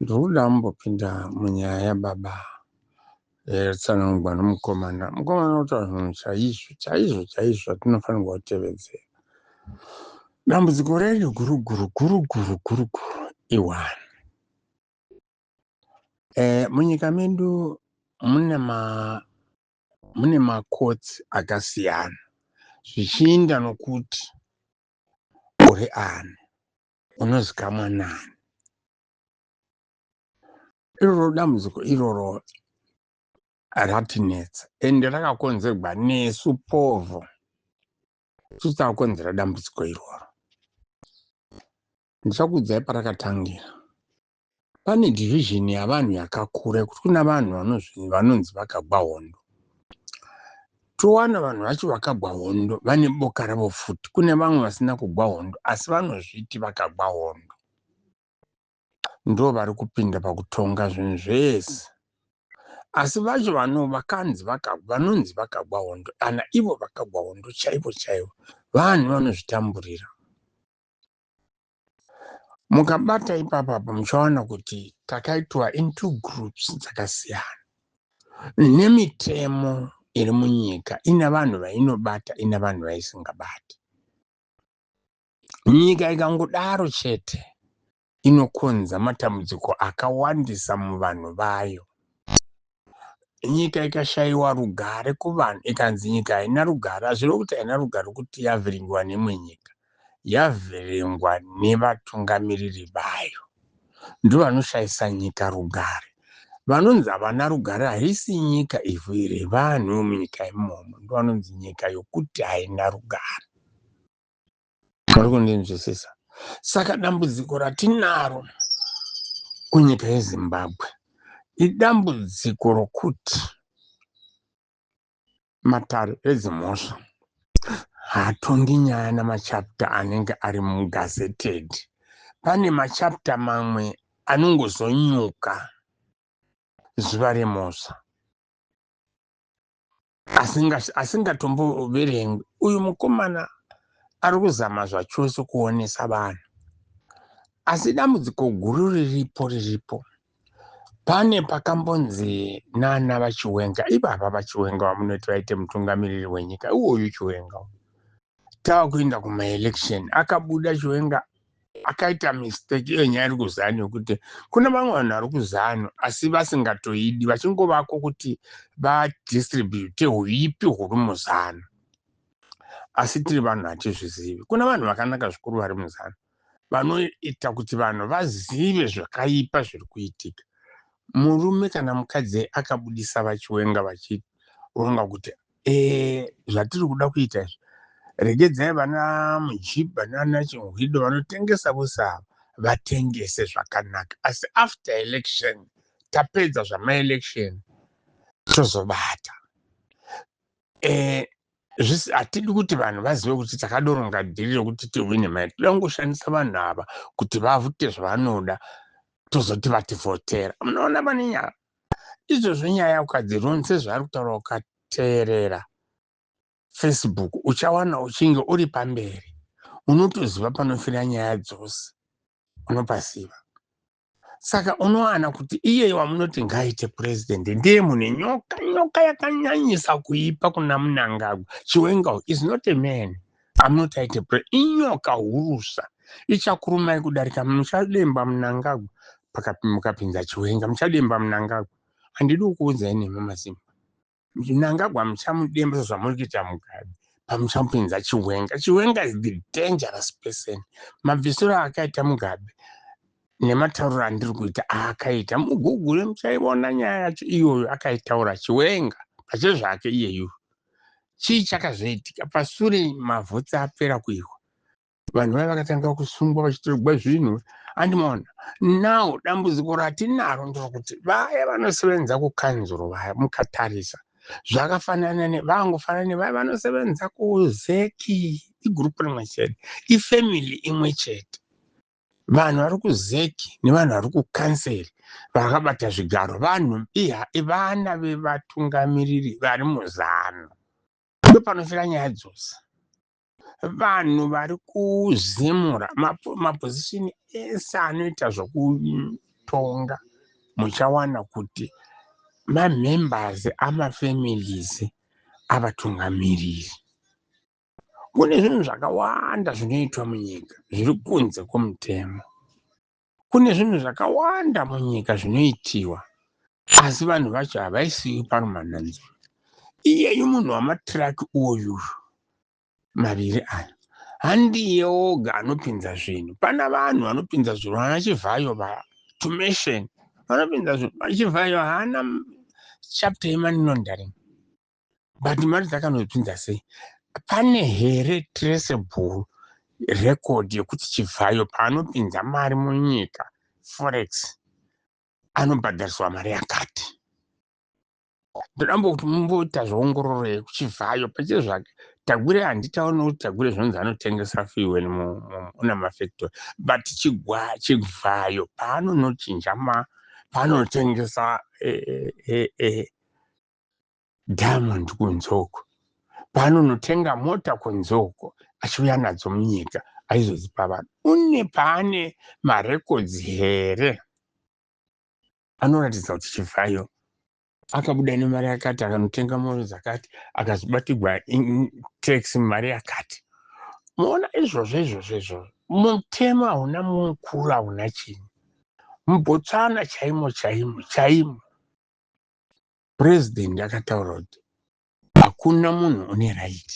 Ndokuda kumbopinda munyaya yababa yatsanangwa nomukomana. Mukomana otaura zvinhu chaizvo chaizvo chaizvo atinofanirwa kutevedzera. Dambudziko redu guru guru guru guru guru guru iwani. Eh, munyika medu mune ma mune makotsi akasiyana zvichiinda nokuti uri ani. unozikamwa nani iroro dambudziko iroro ratinetsa ende rakakonzerwa nesu povho tisu takakonzera dambudziko iroro ndichakuudzai parakatangira Pane division yavanhu yakakura kuti kuna vanhu vanonzi vakagwa hondo towana vanhu vacho vakagwa hondo vane boka ravo futi kune vamwe vasina kugwa hondo asi vanozviti vakagwa hondo ndo vari kupinda pakutonga zvinhu zvese asi vacho vano vakanzi vanonzi vakagwa hondo kana ivo vakagwa hondo chaivo chaivo vanhu vanozvitamburira mukabata ipapa apo muchaona kuti takaitwa in two groups dzakasiyana nemitemo iri munyika ina vanhu vainobata ina vanhu vaisingabati nyika ikangodaro chete inokonza matambudziko akawandisa muvanhu vayo nyika ikashaiwa rugare kuvanhu ikanzi nyika haina rugare hazviro kuti haina rugare kuti yavhiringiwa nemwe nyika yavhiringwa nevatungamiriri vayo ndo vanoshaisa nyika rugare vanonzi havana rugare haisi nyika ivhu iri vanhu vemunyika imomo ndo vanonzi nyika yokuti haina rugare Muri kundinzwisisa? Saka dambudziko ratinaro kunyika yeZimbabwe idambudziko rokuti matare edzimhosva haatongi nyaya namachapta anenge ari mugazeted. Pane machapta mamwe anongozonyuka zuva remhosva. asingatomboverengwi uyu mukomana ari kuzama zvachose kuonesa vanhu asi dambudziko guru riripo riripo pane pakambonzi nana vachiwenga ivava vachiwenga vamunoti vaite mutungamiriri wenyika iwoyu chiwenga tava kuenda kumaelection akabuda chiwenga akaita mistake iyo nyaya iri kuzanu yokuti kune vamwe vanhu vari kuzanu asi vasingatoidi vachingovako kuti vadistribute huipi huri muzanu asi tiri vanhu hatizvizivi kuna vanhu vakanaka zvikuru vari muzanu vanoita kuti vanhu vazive zvakaipa zviri kuitika murume kana mukadzi akabudisa vachiwenga vachironga kuti Eh, zvatiri kuda kuita izvi regedzai vana mujiba nana chinhwido vanotengesa vose ava vatengese zvakanaka asi after election tapedza zvamaelection tozobata eh, zvisi hatidi kuti vanhu vazive kuti takadoronga dhiri rekuti tihwine mai toda kungoshandisa vanhu ava kuti vavute zvavanoda tozoti vativhotera munoona vane nyaya izvozvo nyaya ukadziron sezvaari kutaura ukateerera facebook uchawana uchinge uri pamberi unotoziva panofira nyaya dzose unopaziva saka unowana kuti iyeye wamunoti ngaaite purezidendi ndiye mune nyoka nyoka yakanyanyisa kuipa kuna munangagwa chiwenga is not a man anoti aite pre inyoka hurusa ichakurumai kudarika muchademba munangagwa mukapinza chiwenga muchademba munangagwa handidi kukuudzai nemi masimba munangagwa muchamudemba sezvamuri kuita mugabe pamuchamupinza chiwenga chiwenga is the dangerous person mabvisiro akaita mugabe nematauriro andiri kuita aakaita mugugule muchaiona nyaya yacho iyoyo akaitaura chiwenga pache zvake iyeyu chii chakazoitika pasure mavhutsi apera kuihwa vanhu vaya vakatanga kusungwa vachitorogwa zvinhu andimona now dambudziko ratinaro ndokuti vaya vanosevenza kukanzuro vaya mukatarisa zvakafanana nevangofanana nevaya vanosevenza kuzeki igurupu rimwe chete ifamily imwe chete vanhu vari kuzeki nevanhu vari kukanseri vakabata zvigaro vanhu iya ivana vevatungamiriri vari muzano ndopanofira nyaya dzose vanhu vari kuzemura mapozishini ese anoita zvokutonga muchawana kuti mamembers amafamilies avatungamiriri Kune zvinhu zvakawanda zvinoitwa munyika zviri kunze kwomutemo. Kune zvinhu zvakawanda munyika zvinoitiwa, asi vanhu vacho havaisiwi parumananzo. Iyeyu munhu wamatiraki uyu maviri aya handiye oga anopinza zvinhu. Pana vanhu vanopinza zvinhu, vana Chivhayo vaya, Tumesheni vanopinza zvinhu. Chivhayo haana chapter yemoney laundering. but mari dzakanozvinza sei pane here traceable record yekuti chivhayo paanopinza mari munyika forex anobhadhariswa mari yakati ndodambokuti mumboita zveongororo yekuchivhayo pache zvake tagwire handitaona kuti tagwire zvinonzi anotengesa fiwen una mafactory but chigwayo paanonochinja paanotengesa e, e, e, diamond kunzoko paanonotenga mota kunzoko achiuya nadzo munyika aizodzipa vanhu une paane marekodzi here anoratidza kuti chivhayo akabuda nemari yakati akanotenga moro dzakati akazobatigwa tax mari yakati moona izvozvo izvozvo izvozvo mutemo hauna mukuru hauna chini mubotswana chaimo chaimo chaimo president akataura kuti hakuna munhu une right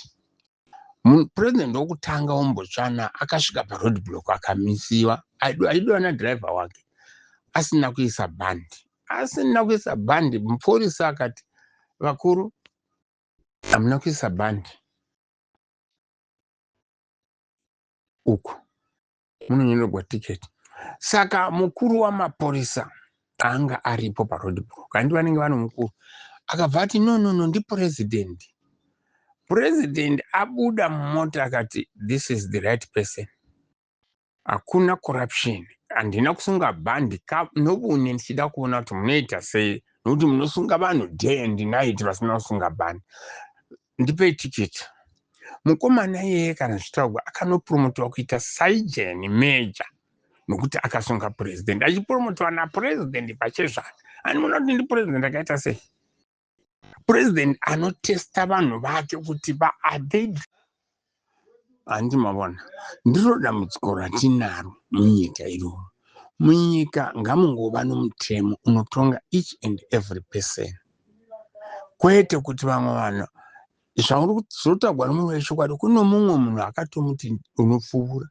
president wokutanga wombotsvana akasvika paroad block akamisiwa aidiwa nadriver wake asina kuisa bhandi asina kuisa bhandi mupurisa akati vakuru hamuna kuisa bhandi uku munonyorerwa ticket saka mukuru wamapurisa anga aripo paroad block handi vanenge vano mukuru akabva ati no no no ndipresident president abuda mumota akati this is the right person hakuna corruption handina kusunga bhandi nobune ndichida kuona kuti munoita sei nokuti munosunga vanhu day and night vasina kusunga bhandi ndipei ticket mukomana iyeye kana zvitaurwa akanopromotewa kuita saigen major nokuti akasunga purezidendi achipromotewa napurezidendi pachezvake ani muona kuti ndipurezidendi akaita sei purezidendi anotesta vanhu vake kuti vaadei handi mavona ndiro dambudziko ratinaro munyika iroro munyika ngamungova nomutemo unotonga each and every person kwete kuti vamwe vanhu zvauri kuti zvotaurwa nomunhu wechokwadi kuno mumwe munhu akatomuti unopfuura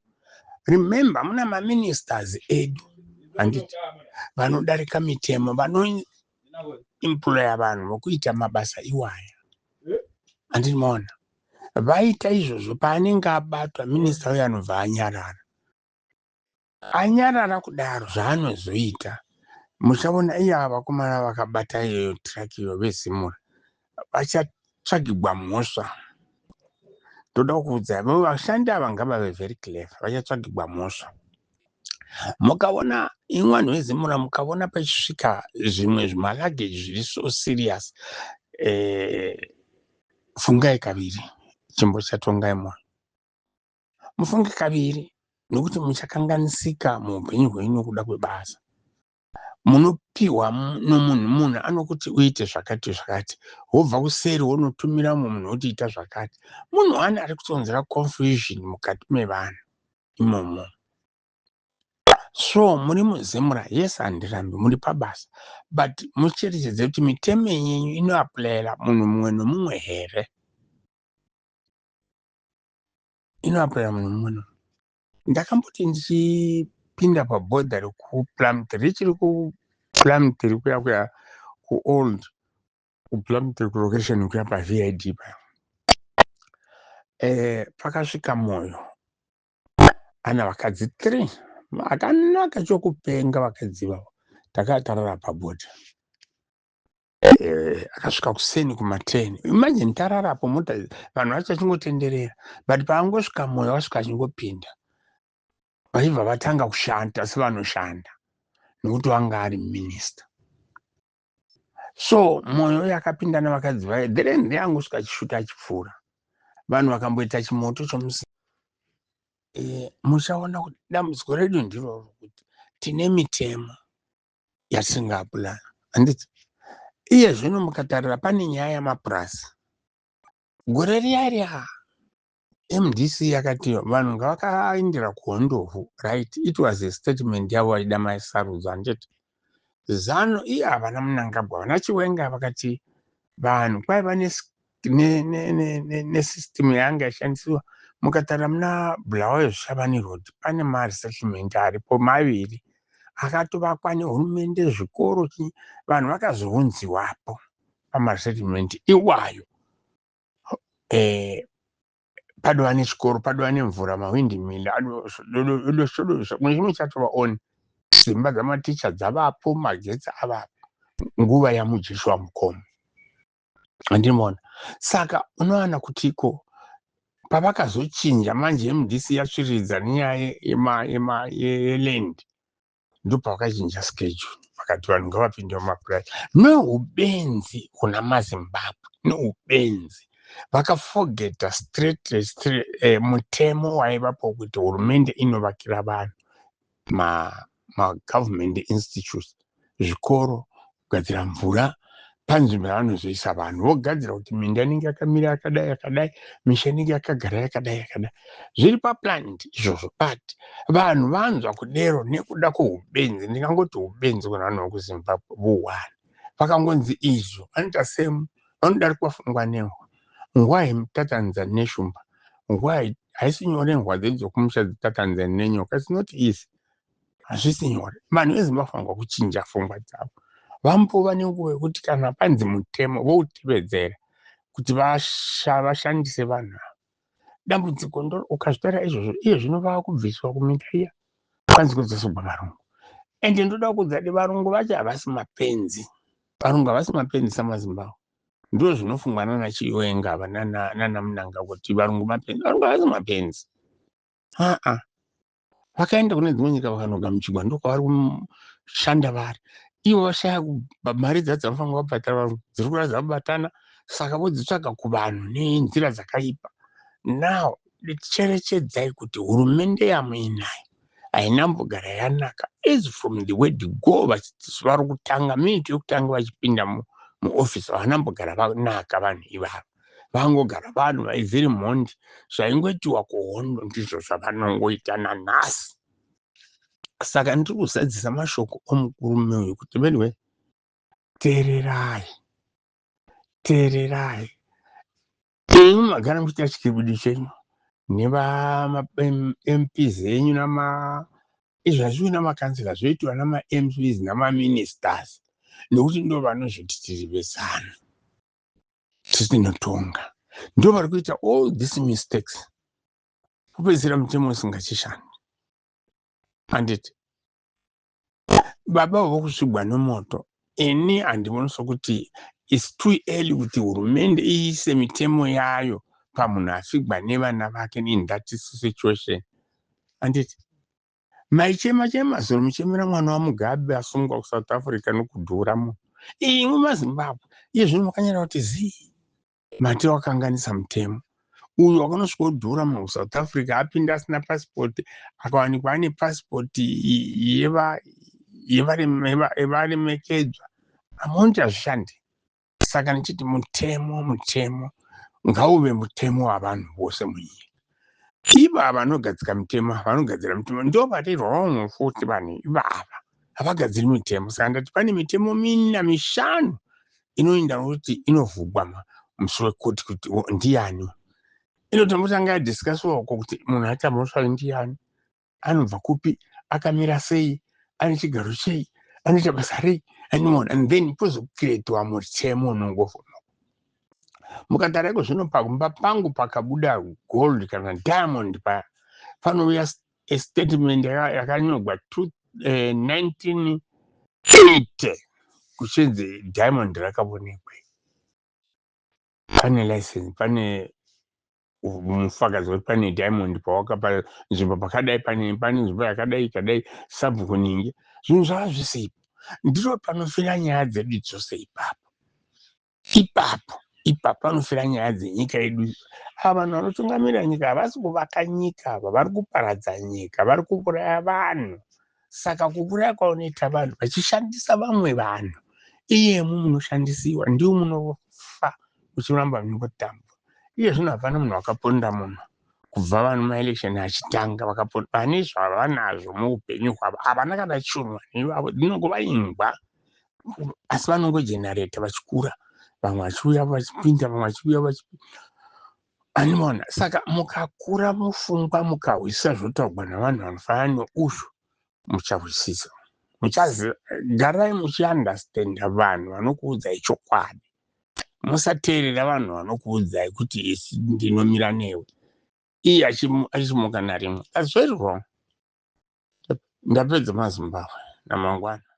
remember muna maministers edu handiti vanodarika mitemo employer vanhu vokuita mabasa iwaya handini maona vaita izvozvo paanenge abatwa minista uyo anobva anyarara anyarara kudaro zvaanozoita muchaona iya vakomana vakabata iyoyo traki iyo vezimura vachatsvagigwa mhosva ndoda kukuudzai vo vashandi ava ngavave very clever vachatsvagigwa mhosva mukaona imwe vanhu vezimura mukaona pachisvika zvimwe zvimalagage zviri so serious eh, fungai kaviri chimbo chatongai mwoyo mufunge kaviri nokuti muchakanganisika muupenyu hwenyu nokuda kwebasa munopiwa nomunhu munhu anokuti uite zvakati zvakati wobva kuseri wonotumira mumwe munhu kuti ita zvakati munhu wani ari kutonzera confusion mukati mevanhu imomo so muri muzimura yes handirambi muri pabasa but mucherechedze kuti mitemo yenyu inoaplayera munhu mumwe nomumwe here inoaplayera munhu mumwe nomumwe ndakamboti ndichipinda pabhodha rekuplumit richiri kuplumit rikuya kuya kuold kuplumit kulocation kuya pavid pa eh, pakasvika moyo ana vakadzi three akanaka chokupenga vakadzi vavo takatarara pabhodha Eh, akasvika kuseni kumateni imagine tararapo mota vanhu vacho vachingotenderera but paangosvika moyo wasvika achingopinda vaibva vatanga kushanda sevanoshanda nokuti wanga ari minista so moyo uyo akapinda nevakadzi vaye then reangosvika achisvuta achipfuura vanhu vakamboita chimoto chomusi eh, muchaona kuti dambudziko redu ndiroro kuti tine mitemo yasingabulana handiti iye zvino mukatarira pane nyaya yamapurazi gore riya riya mdc yakati vanhu ngavakaendera kuhondovhu right it was a statement yavo vaida maisarudzo handiti zano iye havana munangagwa vana chiwenga vakati vanhu kwaiva nesystem ne, ne, ne yanga yashandisiwa mukatara muna bulawayo zvishavani road pane maresettlement aripo maviri akatovakwa nehurumende zvikoro chii vanhu vakazounziwapo pamaresettlement iwayo eh, padova nechikoro padova nemvura mahwindi mili adoshodosha kune chimwe chatova on dzimba dzamaticha dzavapo magetsi avapo nguva yamujeshi wamukoma andimona saka unowana kutiko pavakazochinja manje mdc yatsviridza nenyaya yeland ndopavakachinja schedule vakati vanhu ngavapinde mumapurazi neubenzi kuna mazimbabwe neubenzi vakafogeta straight straight eh, mutemo waivapo kuti hurumende inovakira vanhu ma magovernment institutes zvikoro kugadzira mvura panzvimbo yavanozoisa vanhu vogadzira kuti minda inenge yakamira yakadai yakadai misha inenge yakagara yakadai yakadai zviri paplanned izvozvo but vanhu vanzwa kudero nekuda kweubenzi ndingangoti ubenzi kuna vanhu vekuzimbabwe vuhwani vakangonzi izvo anoita same vanodarikwa fungwa nehwa ngwahi mtatanza neshumba ngwahi haisi nyore nhwa dzedu dzekumusha dzitatanza nenyoka its not easy hazvisi nyore vanhu vezimbabwe vanofanirwa kuchinja fungwa dzavo vambova nenguva yekuti kana panzi mutemo voutevedzera kuti vashandise vanhu ava dambudziko ndo ukazvitaura izvozvo iye zvino vava kubviswa kuminda iya kwanzi kudzosogwa varungu and ndoda kuudza kuti varungu vacho havasi mapenzi varungu havasi mapenzi samazimbabwe ndo zvinofungwa nana chiwenga ava nana munanga kuti varungu mapenzi varungu havasi mapenzi aa vakaenda kune dzimwe nyika vakanogamuchigwa ndokwavari kushanda vari ivo vashaya mari dza dzavanofanira vabhadhara vanhu dziri kuratidza kubatana saka vodzitsvaga kuvanhu nenzira dzakaipa now cherechedzai kuti hurumende yamuinayo haina mbogara yanaka as from the word go vari kutanga miniti yokutanga vachipinda muofisi havana mbogara vanaka vanhu ivavo vangogara vanhu vaivhiri mhondi zvaingoitiwa kuhondo ndizvo zvavanongoita nanhasi saka ndiri kuzadzisa mashoko omukurume uyu kuti veduwe teererai teererai imi magara muchiita chikibidi chenyu nevamps enyu nama izvi hazviwi namakanzila zvoitiwa namamps namaministers nekuti ndo vanozvoti tiri vezanu tisinotonga ndo vari kuita all these mistakes kupedzisira mutemo usingachishandi handiti baba vokusvigwa nomoto ini handioni sokuti its too early kuti hurumende iise mitemo yayo pamunhu afigwa nevana vake in that situation handiti Maichema chema zuro muchemera mwana waMugabe asungwa kuSouth Africa nokudhura munhu. Imwe maZimbabwe iye zvino makanyara kuti zii mati wakanganisa mutemo uyu wakanosvika odhura munhu kuSouth Africa apinda asina passport akawanikwa ane passport yevaremekedzwa amount hazvishandi saka ndichiti mutemo mutemo ngauve mutemo wavanhu vose munyika ivava vanogadzika mitemo vanogadzira mitemo ndo vari wrong futi vanhu ivava havagadziri mitemo saka ndati pane mitemo mina mishanu inoinda kuti inovhugwa musi wekoti kuti ndiyani inotombotanga yadhiskasiwa uko kuti munhu achamhosva ndiani anobva kupi akamira sei ane chigaro chei anoita basa rei anyone and then pozokretwa mutemo unongovhona mukagara iko zvino pamba pangu pakabuda gold kana diamond paya panouya statement yakanyorwa 1980 eh, kuchinzi diamond rakavonekwe pane license pane mufakazi wekuti pane diamond pawakapa nzvimbo pakadai pane pane nzvimbo yakadai kadai sabhuku ningi zvinhu zvava zvese ipo ndiro panofira nyaya dzedu dzose ipapo ipapo ipapo panofira nyaya dzenyika yedu ava vanhu vanotungamirira nyika havasi kuvaka nyika ava vari kuparadza nyika vari kuuraya vanhu Saka kukuraya kwaunoita vanhu vachishandisa vamwe vanhu iyemu munoshandisiwa ndiwo munofa uchiramba muchingotamba iye zvino hapana munhu wakaponda munhu kubva vanhu maelection achitanga vakaponda vane zvavanazvo muupenyu hwavo havana kana chunwa nevavo dzinongova imbwa asi vanongogenareta vachikura vamwe vachiuya vachipinda vamwe vachiuya vachipinda Animona saka mukakura mufungwa mukahwisisa zvotaugwa navanhu vanofanana neuzvo muchahwisisa muchaziva garai muchiunderstanda vanhu vanokuudzai chokwadi musateerera vanhu vanokuudzai kuti isi ndinomira newe iye achimuka narimwe that's very wrong ndapedza mazimbabwe namangwana